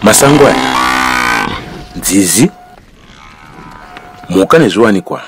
masango aya nzizi mhuka nezviwanikwa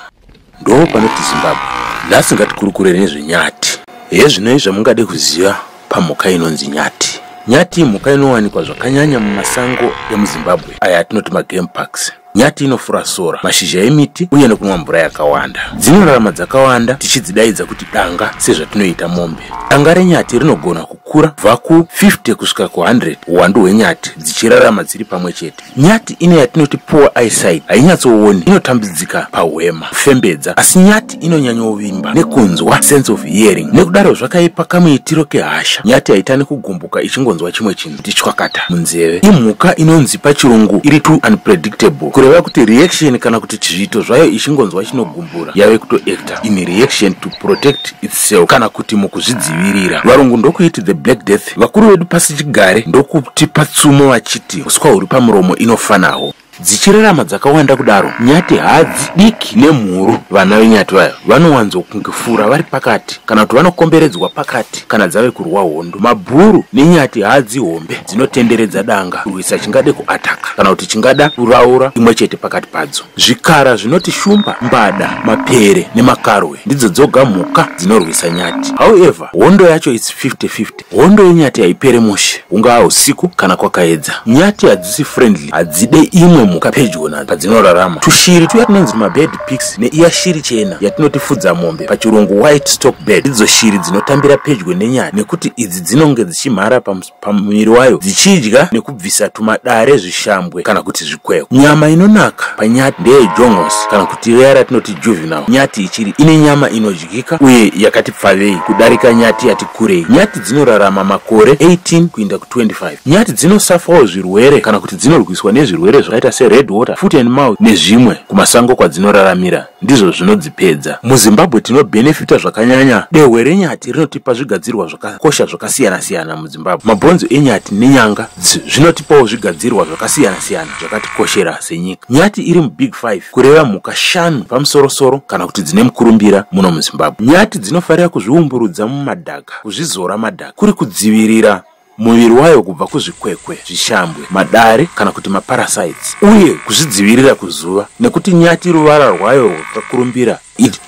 ndoo panoti zimbabwe nhasi ngatikurukurei nezvenyati hezvinoi zvamungade kuziva pamhuka inonzi nyati nyati imhuka inowanikwa zvakanyanya mumasango emuzimbabwe aya atinoti magame parks Nyati inofura sora, mashizha emiti uye nekunwa mvura yakawanda. Dzinorarama dzakawanda tichidzidaidza kuti danga sezvatinoita mombe. Danga renyati rinogona kukura kubva ku 50 kusvika ku100 uwandu hwenyati dzichirarama dziri pamwe chete. Nyati ine yatinoti poor eyesight hainyatsooni, inotambidzika pahwema, kufembedza, asi nyati inonyanyovimba nekunzwa sense of hearing. Nekudaro zvakaipa kamuitiro kehasha, nyati haitani kugumbuka ichingonzwa chimwe chinhu. kuti chwakata munzeve imhuka inonzi pachirungu iri too unpredictable kureva kuti reaction kana kuti chizviito zvayo ichingonzwa chinogumbura yave kutoacta in reaction to protect itself kana kuti mukuzvidzivirira varungu ndokuiti the black death vakuru vedu pasi chigare ndokutipa tsumo vachiti uswa huri pamuromo inofanawo Dzichirarama dzakawanda kudaro, nyati hadzi diki nemhuru. Vana venyati vaya vanowanzokungifura vari pakati kana kuti vanokomberedzwa pakati kana dzave kurwa hondo. Mabhuru nenyati hadzi hombe dzinotenderedza danga kurwisa chingade kuataka kana kuti chingada kuraura imwe chete pakati padzo. Zvikara zvinoti shumba, mbada, mapere nemakarwe ndidzo dzoga mhuka dzinorwisa nyati. However, hondo yacho it's 50-50. Hondo yenyati haipere mushe, hungaa husiku kana kwakaedza. Nyati hadzisi friendly, hadzide imwe mhuka pedyo nadzo padzinorarama. Tushiri tuya tunonzi mabird pigs neiya shiri chena yatinoti fudzamombe, pachirungu white stock bird, ndidzo shiri dzinotambira pedyo nenyati nekuti idzi dzinonge dzichimhara pamuviri wayo dzichidya nekubvisa tumadare, zvishambwe kana kuti zvikweko. Nyama inonaka panyati ndeye jongosi kana kuti riya ratinoti juvenile nyati ichiri ine nyama inodya. yakadyika uye yakati pfavei kudarika nyati yati kurei nyati dzinorarama makore 18 kuinda ku25 nyati dzinosafawo zvirwere kana kuti dzinorwiswa nezvirwere zvakaita sered water foot and mouth nezvimwe kumasango kwadzinoraramira ndizvo zvinodzipedza muzimbabwe tinobenefita zvakanyanya dehwe renyati rinotipa zvigadzirwa zvakakosha zvakasiyana-siyana muzimbabwe mabhonzo enyati nenyanga zvinotipawo zvigadzirwa zvakasiyana-siyana zvakatikoshera senyika nyati iri mubig 5 kureva mhuka shanu pamusorosoro kana kuti dzine mukurumbira muno muzimbabwe nyati dzinofarira kuzviumburudza mumadhaka kuzvizora madhaka kuri kudzivirira muviri wayo kubva kuzvikwekwe zvishambwe madare kana kuti maparasites uye kuzvidzivirira kuzuva nekuti nyati ruvara rwayo rwakakurumbira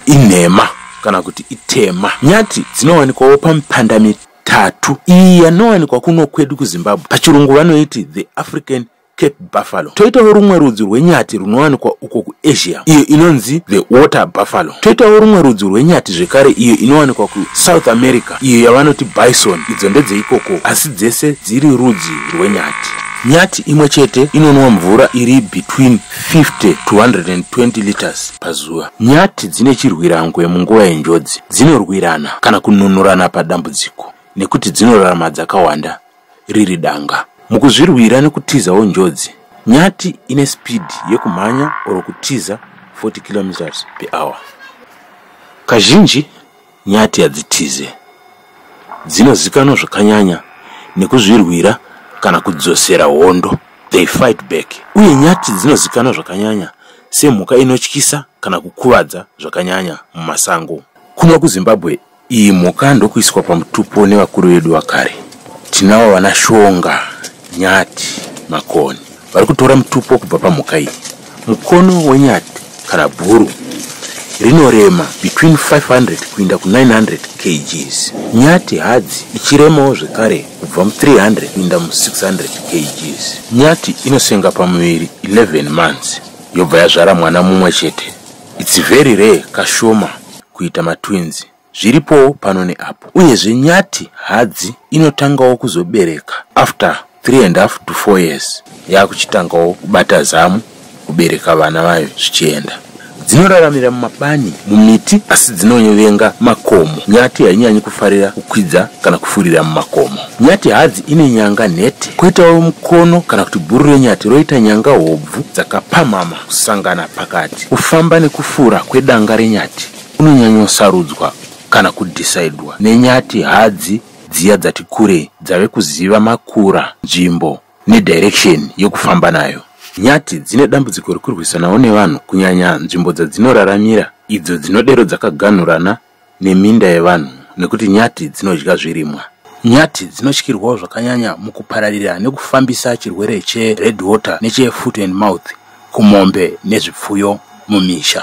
inhema kana kuti itema nyati dzinowanikwawo pamipanda mitatu iyi yanowanikwa kuno kwedu kuzimbabwe pachirungu vanoiti the african cape buffalo toitawo rumwe rudzi rwenyati runowanikwa uko kuasia iyo inonzi the water buffalo toitawo rumwe rudzi rwenyati zvekare iyo inowanikwa kusouth america iyo yavanoti bison idzo ndedzeikoko asi dzese dziri rudzi rwenyati nyati imwe chete inonwa mvura iri between 50 to 120 liters pazuva nyati dzine chirwirangwe munguva yenjodzi dzinorwirana kana kununurana padambudziko nekuti dzinorarama dzakawanda riri danga. Mukuzvirwira nekutizawo njodzi, nyati ine spidhi yekumhanya or kutiza 40 kilometers per hour. Kazhinji nyati hadzitize, dzinozikanwa zvakanyanya nekuzvirwira kana kudzosera hondo, they fight back. Uye nyati dzinozikanwa zvakanyanya semhuka inotyisa kana kukuvadza zvakanyanya mumasango. Kuno kuZimbabwe iyi mhuka ndokuiswa pamutupo nevakuru vedu vakare tinavo vana shonga nyati makoni vari kutora mutupo kubva pamhuka iyi mukono wenyati kana bhuru rinorema between 500 kuinda ku900 kgs nyati hadzi ichiremawo zvekare kubva mu300 kuinda mu600 kgs nyati inosenga pamuviri 11 months yobva yazvara mwana mumwe chete its very rare kashoma kuita matwins zviripowo pano neapo uyezve nyati hadzi inotangawo kuzobereka after 3 and half to 4 years yakuchitangawo kubata zamu kubereka vana vayo zvichienda dzinoraramira mumabani mumiti asi dzinovenga makomo nyati hainyanyi kufarira kukwidza kana kufurira mumakomo nyati hadzi ine nyanga nhete kwoitawo mukono kana kuti bhuru renyati roita nyanga hobvu dzakapamhama Kusangana pakati kufamba nekufura kwedanga renyati kunonyanyosarudzwa kana kudhisaidwa nenyati hadzi dziya dzati kurei dzave kuziva makura, nzvimbo nedirection yekufamba nayo. Nyati dzine dambudziko rekurwisanawo nevanhu kunyanya nzvimbo dzadzinoraramira idzo dzinodero dzakaganhurana neminda yevanhu nekuti nyati dzinodya zvirimwa. Nyati dzinotyirwawo zvakanyanya mukupararira nekufambisa chirwere chered water nechefoot and mouth kumombe nezvipfuyo mumisha.